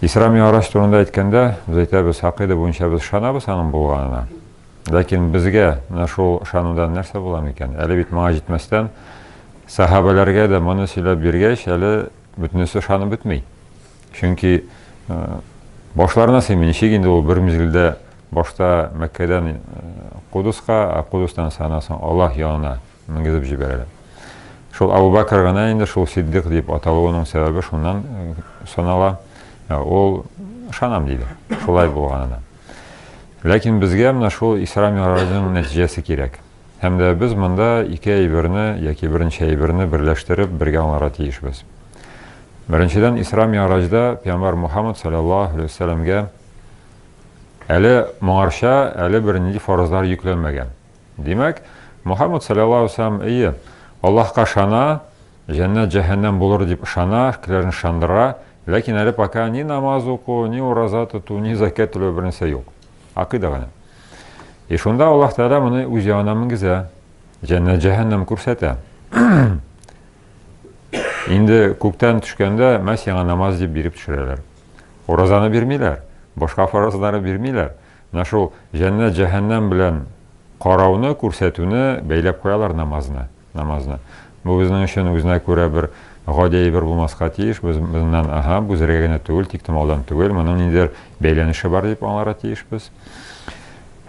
Исра Ми'араҗ турында әйткәндә, без әйтәбез, хакыйда буенча без ышанабыз аның булганына. Ләкин безгә менә шул ышанудан нәрсә була микән? Әле бит моңа җитмәстән сахабәләргә дә моны сөйләп биргәч, әле бөтенесе ышанып бетми. Чөнки башларына сыймый, ничек инде ул бер мизгелдә башта Мәккәдән Кудуска, а Кудустан санасын Аллаһ ягына Менгезеп җибәрәләр. Шул Абу Бәкер генә инде шул Сиддык дип аталуының сәбәбе шуннан санала. Ул ышанам диде, шулай булганына. Ләкин безгә менә шул Исра Мигъраҗның нәтиҗәсе кирәк. Һәм дә без монда ике әйберне яки беренче әйберне берләштереп бергә аңларга тиешбез. Беренчедән Исра Ми'раҗда пәйгамбәр Мухаммад саллаллаһу алейһи вәсәлләмгә әле моңарча әле бер нинди фаразлар йөкләнмәгән. Димәк, Мухаммад салләллаһу алейһи ва сәлләм, әйе, Аллаһка ышана, җәннәт-җәһәннәм булыр дип ышана, кешеләрне ышандыра, ләкин әле пока ни намаз уку, ни ураза тоту, ни зәкят түләү бернәрсә юк. Акыйда гына. И шунда Аллаһ Тәгалә моны үз ягына менгезә, җәннәт-җәһәннәм күрсәтә. Инде күктән төшкәндә Мәсиһиңа намаз дип биреп төшерәләр. Уразаны бирмиләр, башка фаразлары бирмиләр. Менә шул җәннәт җәһәннәм белән карауны, күрсәтүне бәйләп куялар намазны, намазны. Бу безнең өчен үзенә күрә бер гади әйбер булмаска тиеш, без моннан, аһа, бу зрәгә генә түгел, тик томаудан түгел, моның ниндидер бәйләнеше бар дип аңларга тиешбез.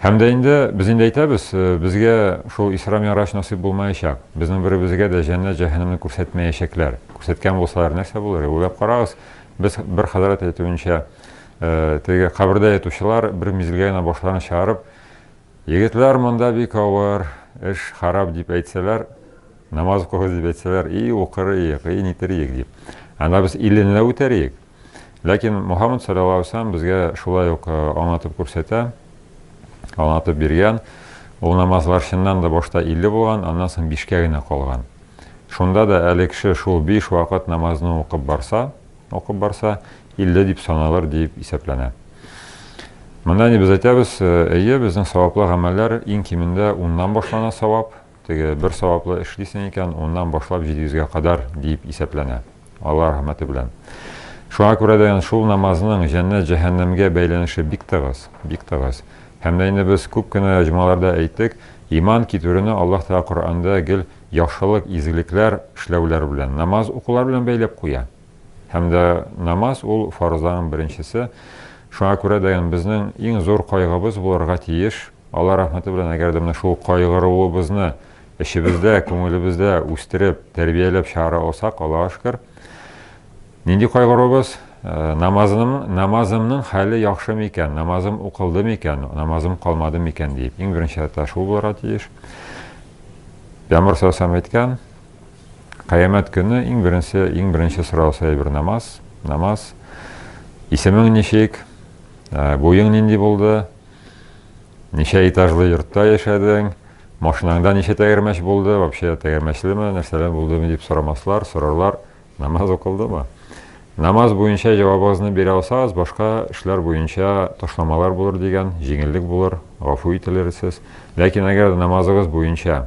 Һәм дә инде без инде әйтәбез, безгә шул Исра Мираҗ насыйп булмаячак. Безнең беребезгә дә җәннәт җәһәннәмне күрсәтмәячәкләр. Күрсәткән булсалар нәрсә булыр? Уйлап карагыз, без бер хәзрәт әйтүенчә, Теге кабердә ятучылар бер мизелгә генә башларын чыгарып, Егетләр, монда бик авыр, эш харап дип әйтсәләр, намаз укыгыз дип әйтсәләр, и укыр иек, и нитер иек дип. Анда без иленләп үтәр иек. Ләкин Мухаммад саллаллаху алейхи вәсәлләм безгә шулай ук аңлатып күрсәтә, аңлатып биргән. Ул намазлар чыннан да башта 50 булган, аннан соң 5кә генә калган. Шунда да әле кеше шул 5 вакыт намазны укып барса, укып барса, 50 дип саналыр диеп исәпләнә. Монда ни без әйтәбез, әйе, безнең саваплы гамәлләр иң кимендә уннан башлана савап, теге бер саваплы эшлисең икән, уннан башлап 700-гә кадәр диеп исәпләнә. Алла рәхмәте белән. Шуңа күрә дә шул намазның җәннәт-җәһәннәмгә бәйләнеше бик тыгыз, бик тыгыз. Һәм дә инде без күп кенә җомгаларда әйттек, иман китерүне Аллаһ Тәгалә Коръәндә гел яхшылык, изгелекләр эшләүләр белән, намаз укулар белән бәйләп куя. Һәм дә намаз ул фарызларның беренчесе. Шуңа күрә дә ин безнең иң зур кайгыбыз булырга тиеш. Алла рәхмәте белән, әгәр дә менә шул кайгыруыбызны эчебездә, күңелебездә үстереп, тәрбияләп чыгара алсак, Аллага шөкер. Нинди кайгыруыбыз? Намазым, намазымның хәле яхшы микән? Намазым укылды микән? Намазым калмады микән дип. Иң беренче рәттә шул булырга тиеш. Пәйгамбер саллаллаху әйткән, Кыямәт көне иң беренче, иң беренче сораусы әйбер намаз, намаз. Исемең ничек? Ә, буең нинди булды? Ничә этажлы йортта яшәдең? Машинаңда ничә тәгәрмәч булды? Вообще тәгәрмәчлеме, нәрсәләр булдымы дип сорамаслар, сорарлар. Намаз укылдымы? Намаз буенча җавабыгызны бирә алсагыз, башка эшләр буенча ташламалар булыр дигән, җиңеллек булыр, гафу ителерсез. Ләкин әгәр намазыгыз буенча